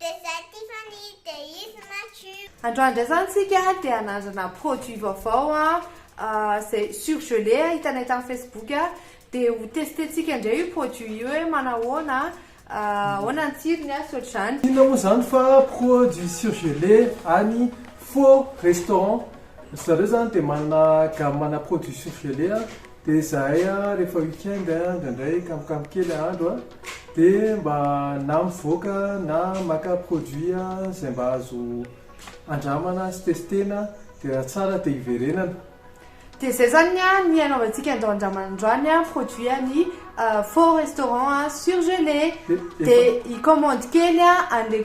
Dia zay Tiffany, dia izy Mathieu. Androany ndray zany tsika te hanandrana produit vaovao zay surgelé hitanay tam facebook de ho tester tsika ndray io produit io hoe manahoana ahoana ny tsirony sy otrzany. Inona moa zany fa produit surgelé any faux restaurant? Ry zareo zany de manana gamme ana produit surgelé Dia izahay rehefa week-end indraindray kamokamo kely andro dia mba na mivoaka na maka produit izay mba azo andramana sy testena dia raha tsara dia hiverenana. Dia izay izany ny anaovantsika andao handramana androany produit an'i Fort Restaurant surgelé. Dia hi-commande kely an'ilay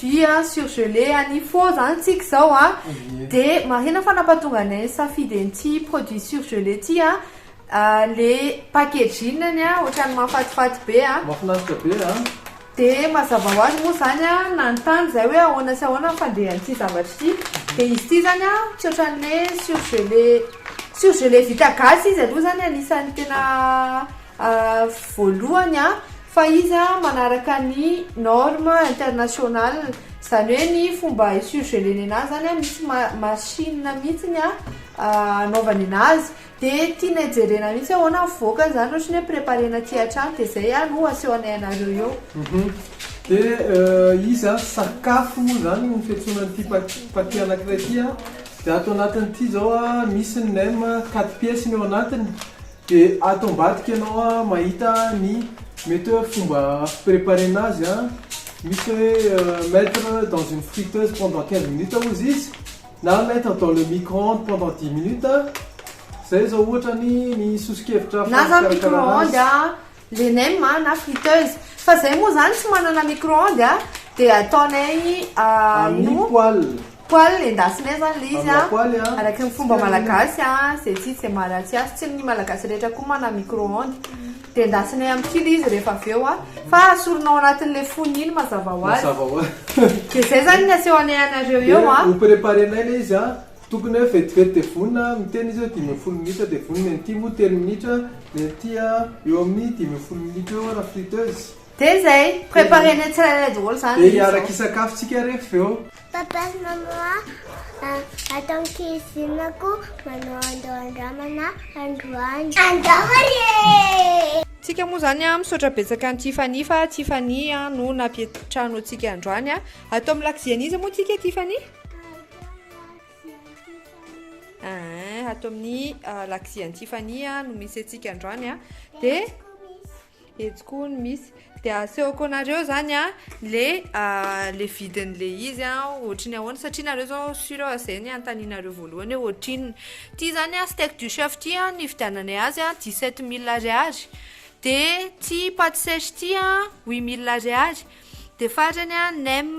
jus a, surgelé a, ny faux zany tsika zao a, de marihina fa nampatonga anay nisafidy an'ity produit surgelé ty a, le packaging-ny a ohatran'ny mahafatifaty be a, Mahafinaritra be a. De mazava ho azy moa zany a, nanontany zahay hoe ahoana sy ahoana ny fandehan'ity zavatra ity, de izy ity zany a tsy ohatran'ny hoe surgelé, surgelé vita gasy izy aloha zany anisan'ny tena. voalohany fa izy manaraka ny norme international zany hoe ny fomba hi surgelena anazy zany misy machine mihitsy ny anaovany anazy de tianay jerena mihitsy hoe ahoana ny voakany zany ohatra hoe preparena aty hatrany de zay no asehonay anareo eo de izy zany sakafo moa zany no fiantsoana an'ity paquet anakiray ity de ato anatin'ity zao misy ny nem quatre pièces ny ao anatiny De ato ambadika enao a mahita ny mety oe fomba fi preparer-na azy a, misy oe mettre dans une friteuse pendant quinze minutes ozy izy na mettre dans le micro-ondes pendant dix minutes, zay zao ohatra ny ny soso-kevitra fa fikarakarana azy. le nem a na friteuse fa zay moa zany tsy manana micro onde a de ataonay aminy poale poale endasinay zany le izy a araky ny fomba malagasy a ze tsy izy ze maharatsy azy tsy ny malagasy rehetra koa manana micro onde de endasinay aminy kely izy rehefa avy eo a fa asorinao anatin'le fony iny mazava hoazy de zay zany ny asehonay anareo eo a ho preparenay le izy a Tokony hoe vetivety dia vonona aho miteny izy hoe dimy ambin'ny folo minitra dia vonona, ny an'ity moa telo minitra, ny an'ity a eo amin'ny dimy ambin'ny folo minitra eo raha friteuse. Dia izay, préparer-nay tsirairay daholo izany izy zao. Dia hiaraka hisakafo tsika rehefa avy eo. Papa sy maman a, ato ankizinako manao andao andramana androany. Andao ary e! Tsika moa izany a, misaotra betsaka an'i Tiffany fa Tiffany a no nampietry trano antsika androany a. Ato amin'ny lakozia an'iza moa tsika Tiffany? ato amin'ny ah, laxi an'i Tiffany ah, no misy antsika androany a ah. de etsy koa no misy de asehoko anareo zany a le le vidin'le izy a ohatry ny ahoana satria nareo zao sur eo zay ny antaninareo voalohany hoe ohatriny ty zany a steak du chef ty a ny vidiananay azy a 17 mille ariary de ty pâte sèche ty a 8 mille ariary de farany a nem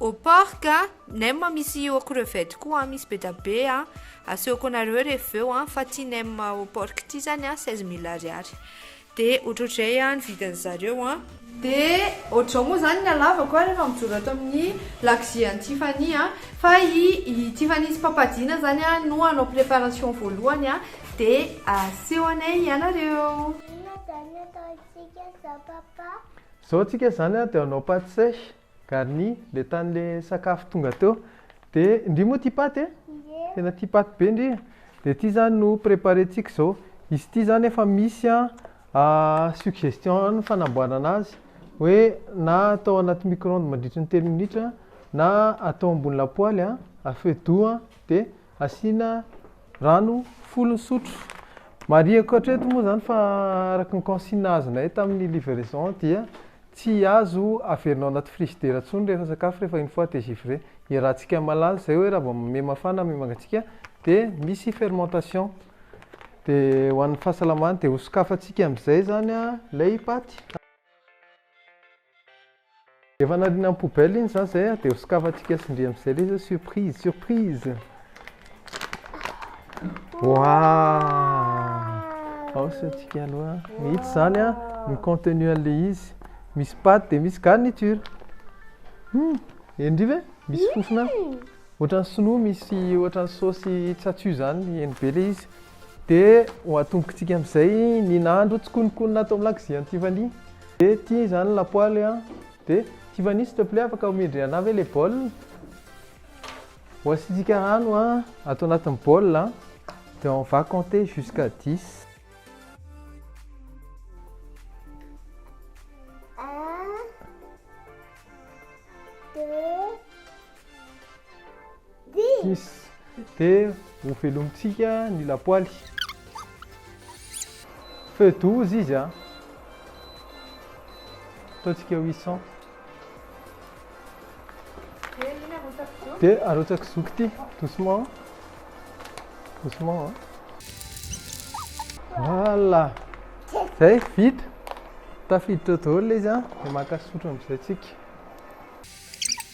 Au porc a, nem misy au crevette koa a, misy bedabe a, asehoko anareo rehefa eo a, fa ty nem au porc ity zany a seize mille ariary, de ohatrohatrizay a ny vidiny zareo a, de ohatr'izao moa zany ny halavako a rehefa mijoro ato amin'ny lakozia an'i Tiffany a, fa i Tiffany sy Papa Dina zany a no hanao préparation voalohany a, de asehonay ianareo. Inona zany ataontsika zao papa? Zao tsika zany a de hanao pate sèche, Garni, le tany le sakafo tonga teo de ndry moa tia paty e! tena tia paty be ndry e! de ity zany no preparentsika izao, izy ity zany efa misy suggestion fanamboarana azy hoe na atao anaty micro-ondes mandritry ny telo minitra na atao ambony lapoaly a feu doux a de. Asiana rano folo sotro. Marihiko hatreto moa izany fa araka ny consigne azonay tamin'ny livraison dia tsy azo averina ao anaty frizidera intsony rehefa sakafo rehefa une fois degivre. Iarahantsika mahalala izay hoe raha vao miha mafana miha mangatsiaka dia misy fermentation. Dia ho an'ny fahasalamana dia hosokafantsika amin'izay izany ilay paty. Efa nariana am poubelle iny za zay a de ho sokafantsika tsindry amzay le zao surprise surprise waah ao saintsika aloha its zany a ny contenu anle izy misy paty de misy garniture hum henri ve misy fofona ohatran'ny sinoa misy ohatran'ny saosy tsatsu zany heno be le izy de ho atombokitsika amzay ny nahandro tsikonokonona ato am lakozian tiffany Be ty zany lapoaly an. Be. Tiffany s'il te plait afaka omendry anah ve le bol? Ho asiantsika rano an ato anatin'ny bol an dia on va compter jusqu'à dix. Six, dia hovelomintsika ny lapoaly. Feu douze izy an. Ataontsika huit cents. Dia arotsaka zoky ity, doucement, doucement an. Voilà, zay vita. Tafiditra eo daholo ilay izy an, dia maka sotro amin'izay tsika.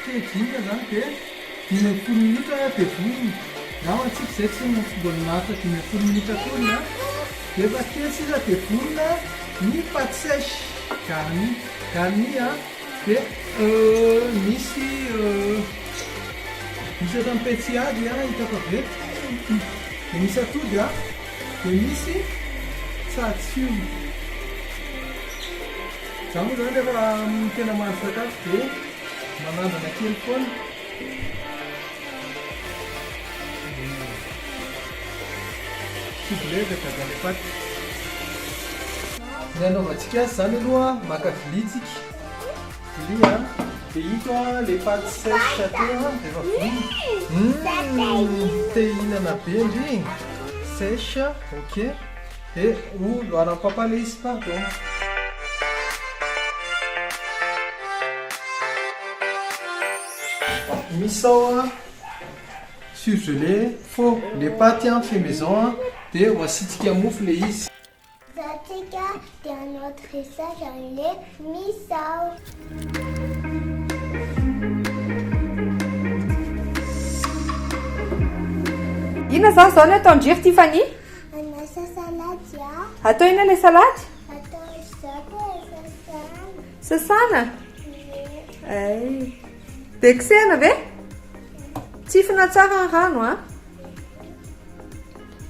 Teny dingana izany dia dimy ambin'ny folo minitra dia vonona na ho antsika izay tsy mbola maharitra dimy ambin'ny folo minitra akory na rehefa kely sisa dia vonona ny pâte sèche garni garni a dia misy misy ohatran'ny petsihady a hita fa venty dia misy atody a dia misy tsatsio za moa izany rehefa tena mahandro sakafo dia Manandrana kely foana. Soufflé dia gaga le paty. Ny anaovantsika azy izany aloha maka vilia tsika. Vilia a. Dia ito a le paty sèche atao a dia efa vonona. Hum te hihinana be ndry. Sèche ok. He o loara papa le izy pardon. Misy ao a surgelé fô le paty an fait maison an de ho asiantsika mofo le izy. Zatsika de un autre recette any le misy ao. Inona izany izao no ataon-dry ry Tiffany? Anasa salady aho. Atao ina ilay salady? Atao zato e, sasana. Sasana? Ay. Dia kosehana ve? Tsifina tsara ny rano a.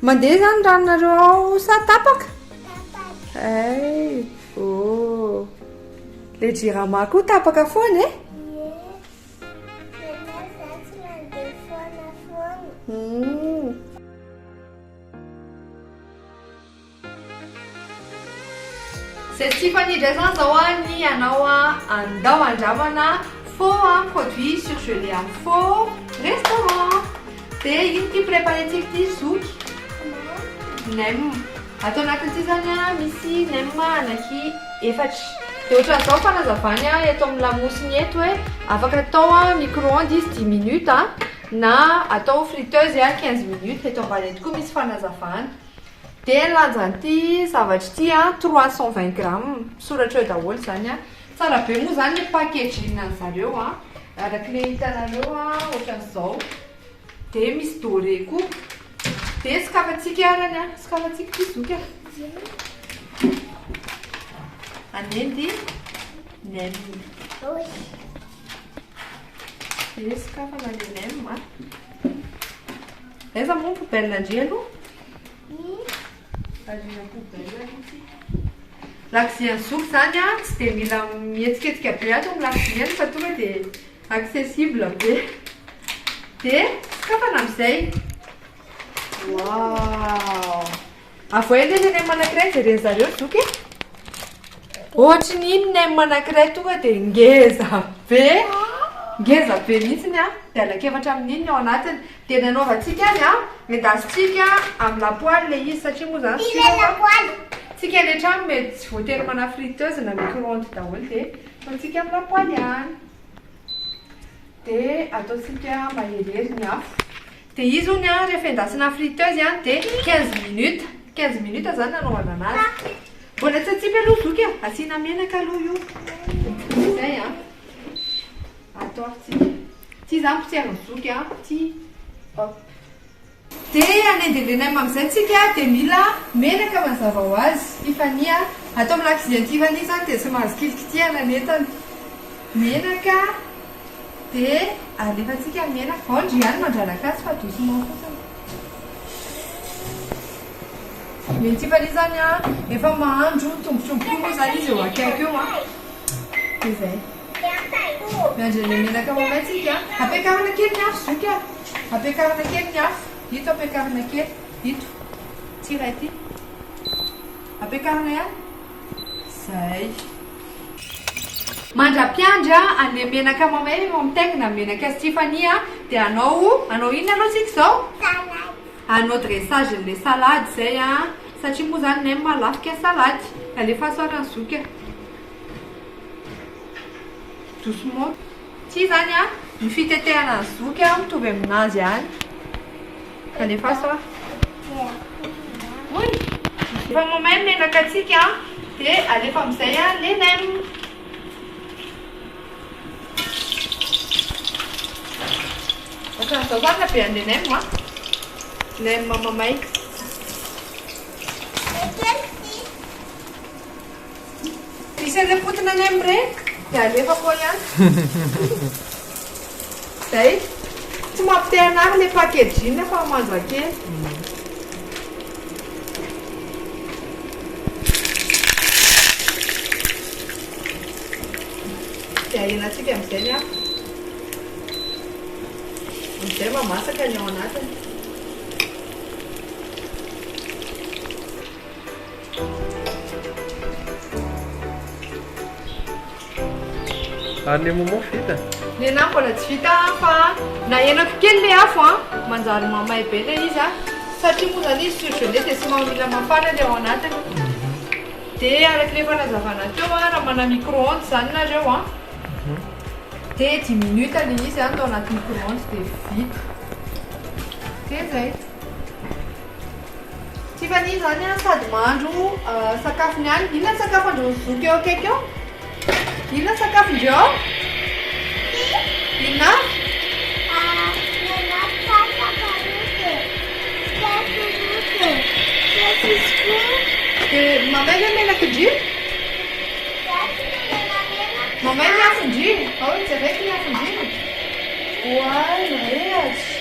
Mandeha izany ranonareo ao sa tapaka? Tapaka. Ay. Oh. Le jirama koa tapaka foana e? Ye. Nefa za tsy mandeha foana foana. Hmm. Zay tsy fanidra zany zao a ny anao a andao andramana faux a produit surgelé a faux restaurant de ino ty préparé tsika ty zoky nem ato anatiny ty zany a misy nem anaky efatra de otran'izao ny fanazavany a eto amin'ny lamosiny eto hoe afaka atao a micro-ondes izy dimy minutes a. na atao friteuse a quinze minutes eto ambany eto koa misy fanazavana dia ny lanjan'ity zavatra ity a trois cent vingt grammes misoratra eo daholo izany a tsara be moa izany ny packaging an'ny zareo a araka ilay hitanareo a ohatran'izao dia misy doré koa dia sokafantsika arany a sokafantsika ity zoky a anendy nem Dia sokafana ny nem a. Aiza moa ny poubelle ndry aloha? Arina poubelle aloha tsika. Lakozia an'i Zoky izany a, tsy dia mila mihetsiketsika be ato amin'ny lakoziany fa tonga dia accessible be. Dia sokafana amin'izay. Waouh! Avoahy anie le nem anakiray jereny zareo zoky e! Ohatry ny iny nem anakiray tonga dia ngeza be, ngeza be mihitsy ny an, dia hanakevatra amin'iny ny ao anatiny, dia ny anaovantsika azy an, endasintsika amin'ny lapoaly le izy satria moa zany tsika lapoaly, tsika any an-trano mety tsy voatery manana friteuse na micro-ondes daholo dia ataontsika amin'ny lapoaly ihany, dia ataontsika maherihery ny afo. Dia izy hono an rehefa endasina friteuse an dia quinze minutes, quinze minutes izany no anaovana anazy. Mbola tsy atsipy aloha zoky a, asiana menaka aloha io. Izay an. Atao avy tsy dia. Tsy izaho mpotserin'i zoky an, ty. Hop. Dia hanendy ireny am amin'izay isika dia mila menaka mazava ho azy. Tiffany an. Ato amin'ny lakozia an'i Tiffany izany dia tsy mahazo kilikitihana ny entana. Menaka. Dia alefantsika amin'ny aina. Ao ndry ihany mandranaka azy fa doucement fotsiny. Ny Tiffany izany an, efa mahandro tombotromboky moa izany izy eo akaiky eo an. Dia izay. Miandry an'ilay menaka mamay tsika. Ampiakarina kely ny afo zoky an. Ampiakarina kely ny afo. Ito ampiakarina kely. Ito. Ity iray ity. Ampiakarina ihany. Zay. Mandra-piandry a, anle menaka mamay ve mba mitaingina ny menaka azy Tiffany a, de anao, anao inona aloha tsika zao? Salade. Anao dressage anle salade zay a, satria moa zany nem a lafo kay salade, alefaso ary ny zoky a, doucement, ty zany a ny fitetehana ny zoky a mitovy aminazy ihany. Alefaso a. Oy! Efa mamay ny menakatsika a. Dia alefa amin'izay a le nem. Ohatran'izao zany habehan'ny le nem a. Nem mamay. Misy an'ireny potiny any amin'ny re dia alefako ao ihany. Zay. Tsy mampite hanary ilay packaging fa manja kely. Dia ahenantsika amin'izay ny afo. Amin'izay mamasaka ny ao anatiny. Ary ny momo fa vita? Ny anah mbola tsy vita fa nahenako kely le afo an! manjary mamay be le izy an! satria moa zany izy surgelé dia somary mila mafana le ao anatiny dia araka le efa nazavana teo an! raha manana micro-ondes zany nareo an! dia dix minutes le izy an! tao anaty micro-ondes dia vita dia zay Tiffany izany an sady mahandro sakafo ny any. Inona ny sakafo andreo zoky eo akaiky eo? Inona ny sakafo ndreo ao? Inona avy? Dia mamay ve menakindry? Mamay ny afondry? Ao jereko ny afondry. Oay, mirehatra.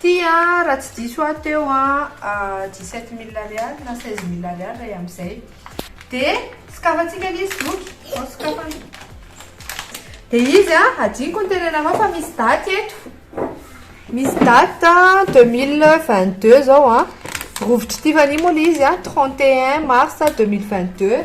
Ty a, raha tsy diso aho teo a, dix sept mille ariary na seize mille ariary ray amzay. De sokafantsika anie izy boky, ao sokafana. De izy a, hadinoko ny tenenanao fa misy daty eto. Misy date a, deux mille vingt deux zao a. Rovitry Tiffany moa le izy a, trente et un mars deux mille vingt deux.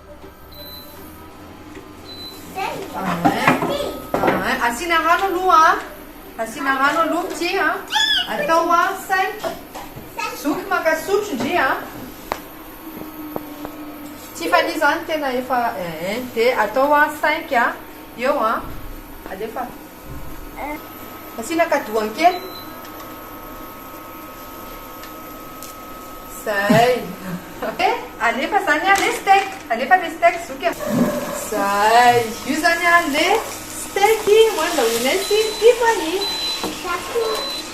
Asiana rano aloha an! Asiana rano aloha petit an! Atao an cinq. Zoky maka sotro ndry an! Tiffany izany tena efa eh. Dia atao an cinq an! Eo an! Alefa. Asiana kadoany kely. Zay. He, alefa zany an le steak. Alefa le steak zoky an. Zay. Io zany an le steak hoan'ny laoinay sy ny tiako an i.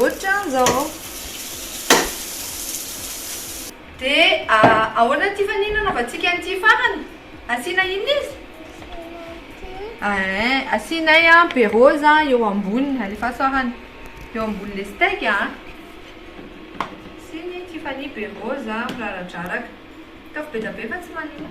Otran zao. De ahoana ity fanihy nanaovantsika an'ity farany? Asiana inona izy? Ee, asianay an be rose an eo amboniny, alefaso arany eo ambonin'ilay steak an. Asiany ity fanihy be rose an, miraradraraka. Ataovy be dia be fa tsy manimba.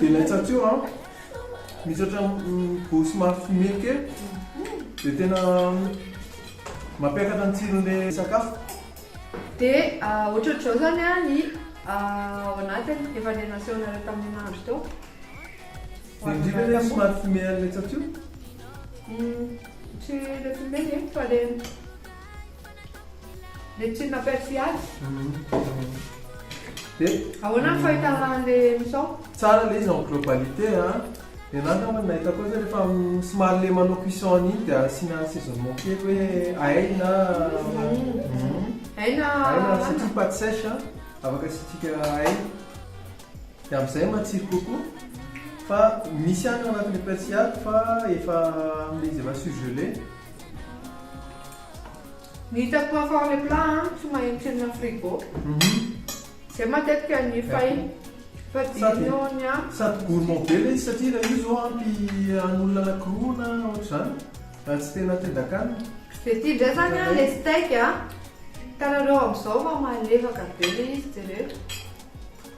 Dia laitsa teo an! Misy ohatran'ny goût somary fumé kely, dia tena mampiakatra ny tsiron'ilay sakafo. Dia ohatrohatr'izao izany ny ao anatiny, efa ilay nasehonareo tamin'ny nahandro teo. Dia indrindra ilay somary fumé an'ny laitsa teo. Tsy ilay fumé ve fa ilay. Médecine appelle Fiady. Dia Ahoana ny fahitana an'ilay emission? Tsara ilay izy en globalité a. Dia za angamba ny nahitako azy rehefa somary ilay manao cuisson an'iny dia asiana assaisonnement kely hoe ail na Aina ail na surtout pates sèches a, afaka asiantsika ail. Dia amin'izay matsiro kokoa. Fa misy ihany ao anatin'ilay persil fa efa amin'ilay izy efa surgelé. Ny hitako hafa ao le plat an, tsy mahintsina frigo. Zay matetika ny fay fa dino ny an. Sady gourmand be le izy satria ilay io zao ampy an'olona anakiroa na ohatr'izany raha tsy tena tendan-kanina. Dia ity indray izany an le steak an, hitanareo amin'izao fa malefaka be le izy jereo.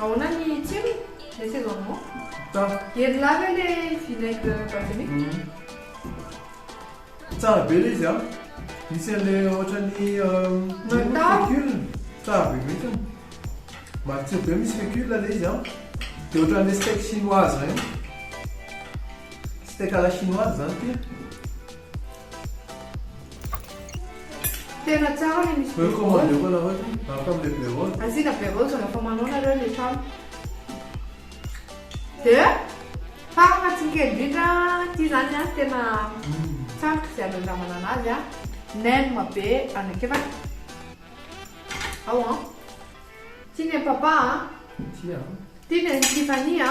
Ahoana ny tsirony? Laissez en moi. Tsara. Hery lahy ve le vinaigre balsamique? Tsara be le izy an! Misy an'le ohatran'ny fécule, tsara be mihitsiny. Matsiro be misy fécule le izy an! Dia ohatran'le steak chinoise ireny. Steak à la chinoise izany ity. Tena tsara le misy be rose. Asiana be rose rehefa manao nareo le trano. Dia farany hatsinike indrindra ity zany a tena tsara ze anandramana anazy a nem be anakiraka ao an. Tia ny an'i papa a. Tia an. Tia ny an'i Tiffany a.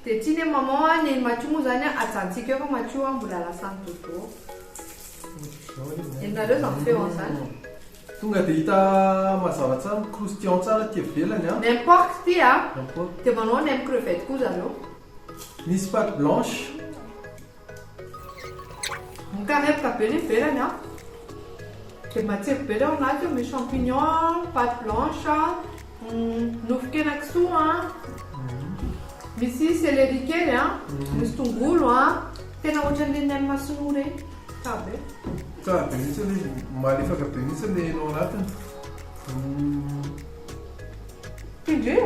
Dia tsy ne maman a, neny Matio moa zany a, ajantsika eo fa Matio a, mbola lasan'i Dodo ô. Henonareo zany feo an zany. Tonga dia hita mazava tsara, mi-croustillant tsara aty ivelany an. Nem porc ty a, dia manao nem crevette koa zareo. Nisy pâte blanche. Mikarepoka be ny ivelany an! Dia matsiro be ilay ao anaty io, misy champignon an, pate blanche an, nofon-kena kisoa an, misy céleri kely an, misy tongolo an, tena ohatran'ilay ny any Masinoa ireny, tsara be. Tsara be mihitsy ilay izy, malefaka be mihitsy ilay hena ao anatiny. Tindrio!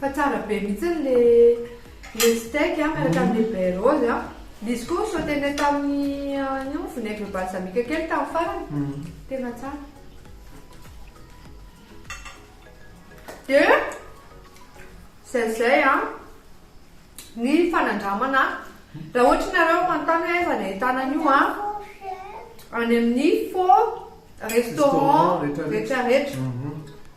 Fa tsara be mihitsy le le steak a miaraka amin'ny baie rose a. Ilay izy koa sautenay tamin'ny an'io vinaigre balsamique kely tamin'ny farany. Tena tsara. Dia izay izay a ny fanandramana raha ohatra ianareo manontany hoe aiza no ahitana an'io a any amin'ny faux restaurant rehetra rehetra.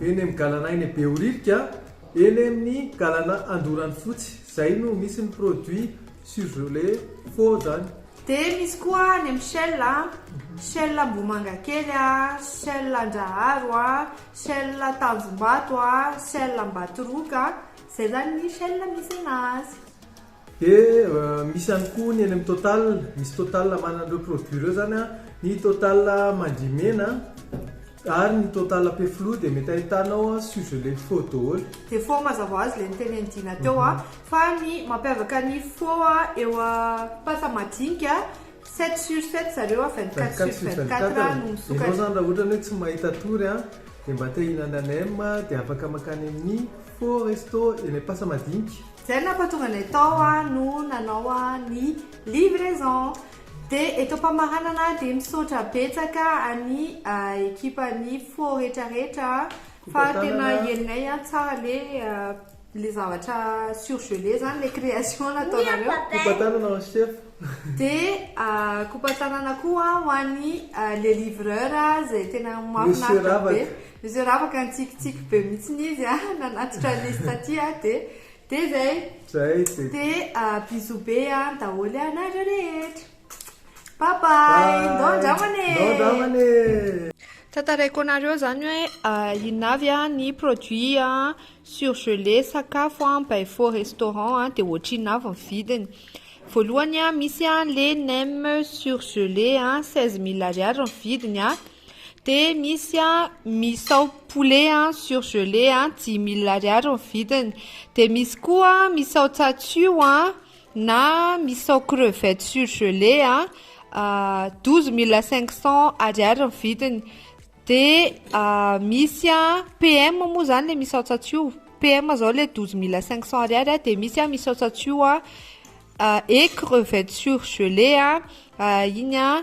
Eny amin'ny galana eny Behoririka, eny amin'ny galana Andoranofotsy. Izay no misy ny produit surgelé four izany. Dia misy koa any amin'ny Shell a, Shell Ambohimangakely a, Shell Andraharo a, Shell Tanjombato a, Shell Ambatoroka a. Izay izany ny Shell misy anazy. Dia misy ihany koa ny eny amin'ny total, misy total manana ireo produits ireo izany an, ny total mandrimena ary ny total pe flou dia mety ahitanao surgelé faux daholo. Dia faux mazava azy ilay nitenen'i Dina teo an, fa ny mampiavaka ny faux eo amin'ny pâte madinika, sept sur sept zareo an, vingt quatre sur vingt quatre no misokatra. Ianao izany raha ohatra hoe tsy mahita tory an, dia mba te hihinana nem dia afaka mankany amin'ny faux resto eny amin'ny pâte madinika. Zay no nampatonga anay tao no nanao ny livraison. Dia eto am-pamaranana dia misaotra betsaka an'i ekipan'ny fo retraretra fa tena henonay tsara le le zavatra surgelé zany le création nataonareo. Coupe tanana ho chef. Dia coupe tanana koa ho an'i le livreur zay tena mahafinaritra be. Zay ravaka nitsikitsiky be mihitsiny izy a, nanatitra an'izy taty a, de de zay. Zay de. De bisous be an daholo ianareo rehetra. Bye bye, ndao andramana e. Ndao andramana e. Tantaraiko anareo zany hoe inona avy an ny produit an surgelé sakafo an by faux restaurant an de ohatrinona avy ny vidiny. Voalohany an misy an le nem surgelé an seize mille ariary ny vidiny an. De misy a misao poulet a surgelé a dimy mille ariary ny vidiny de misy koa misao tsatsio a na misao crevette surgelé a douze mille cinq cent ariary ny vidiny de misy a PM moa zany le misao tsatsio PM zao le douze mille cinq cent ariary a de misy a misao tsatsio a et crevette surgelé a iny a.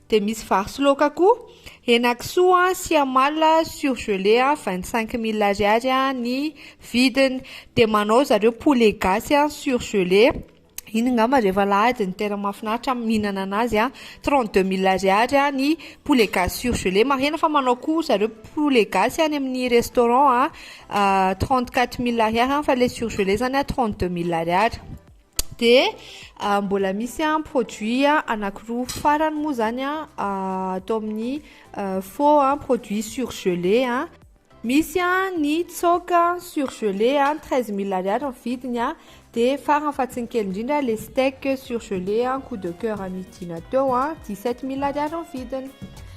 Dia misy vary sy laoka koa, henakisoa sy amalona surgelé a, vingt cinq mille ariary ny vidiny, dia manao zareo poulet gasy a surgelé, iny angamba rehefa alahady no tena mahafinaritra ny mihinana an'azy a, trente deux mille ariary ny poulet gasy surgelé, marihina fa manao koa zareo poulet gasy any amin'ny restaurant a, trente quatre mille ariary fa ilay surgelé izany a trente deux mille ariary. Dia mbola misy an produit anakiroa farany moa zany an atao amin'ny faux an produit surgelé an misy an ny tsoaka surgelé an treize mille ariary ny vidiny an dia farany fa tsy ny kely indrindra le steak surgelé an coup de coeur nividiana teo an dix sept mille ariary ny vidiny.